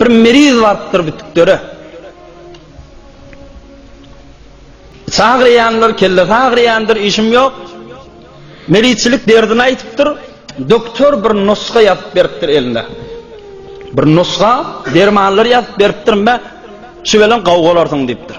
Bir meriz barypdyr bitiklere. Çagyrýanlar, kellesi agyrýandyr, işim ýok. Merizçilik derdini aýdypdyr. Doktor bir nusga ýazyp beripdir eline. Bir nusga dermanlar ýazyp beripdir, "Mä, şu bilen gawgalarsyň" diýipdir.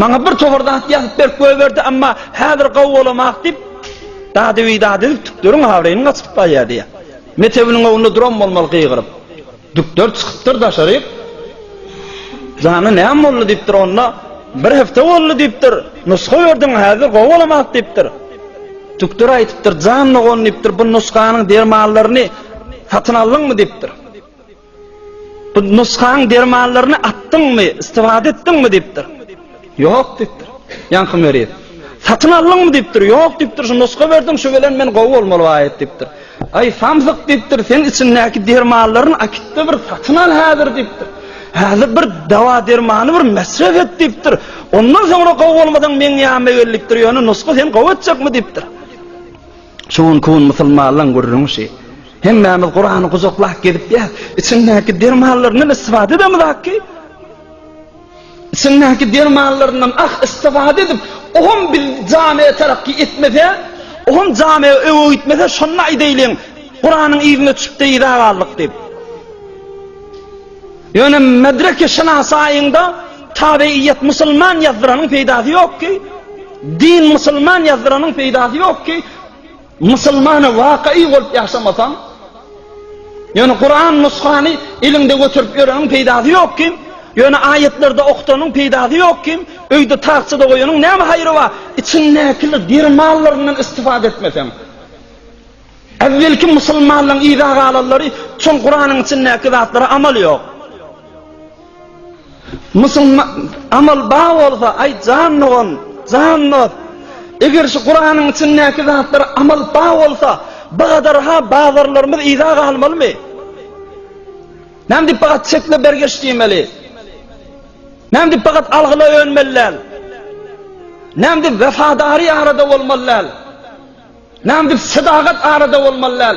Maňa bir towar zat ýazyp berip goýberdi, emma häzir gawy bolamak diýip, dady-bidady edip tükleriň abraýyny gaçyryp barýar diýýär. Mekdebiniň öňünde duran bolmaly gygyryp. Tükler çykypdyr daşaryk. Jany näme boldy diýipdir onda. Bir hepde boldy diýipdir. Nusga berdiň, häzir gowy bolamak diýipdir. Tükler aýdypdyr, jan dogan diýipdir, bu nusganyň dermanlaryny satyn aldyňmy diýipdir. Bu nusgaň dermanlaryny atdyňmy, istifade etdiňmi diýipdir. Ýok diýipdir. Ýaňky meriz. Satyn aldyňmy diýipdir. Ýok diýipdir. Şu nusga berdiň, şu bilen men gowy bolmaly baýat diýipdir. Aý, samsyk diýipdir, sen içindäki dermanlaryny akytda bir satyn al häzir diýipdir. Häzir bir dawa-dermany bir mesref et diýipdir. Ondan soňra gowy bolmasaň meň ýanyma gel diýipdir. Ýöne nusga seni gowy etjekmi diýipdir. Şu günki gün musulmanlaň gürrüňi şi. Hemmämiz Kurany gujaklap gezip ýas. Içindäki dermanlaryndan istifade edemizak ki. Içindäki dermanlaryndan ah istifade edip, oňam bil jame terakki etmese, oňam jame öňe gitmese şonda aýdaýlyň, Kuranyň yzyna çüpde yza galdyk dip. Ýöne medreke şynasaýyňda tabeýýet musulman ýazdyranyň peýdasy ýok ki, din musulman ýazdyranyň peýdasy ýok ki, musulmana wakyýy bolup ýaşamasaň, ýöne Kuran nuskany eliňde göterip ýöreniň peýdasy ýok ki, ýöne aýatlerde okutanyň peýdasy ýok ki, öýde tagçada goýanyň näme haýry bar, içindäki diri mallaryndan istifade etmeseň. Äwwelki musulmanlaryň yza galanlary üçin Kuranyň içindäki zatlara amal ýok. Musulman amal bar bolsa, aý jan dogan, jan dost, eger şu Kuranyň içindäki zatlara amal bar bolsa, bu gadar ha bazarlarymyz yza galmalymy? Näme diýip bagat çekle bergeç diýmeli? Näme diýip bagat algyla önmeli däl? Näme diýip wefadarý arada bolmaly däl? Näme dip sadagat arada bolmaly däl.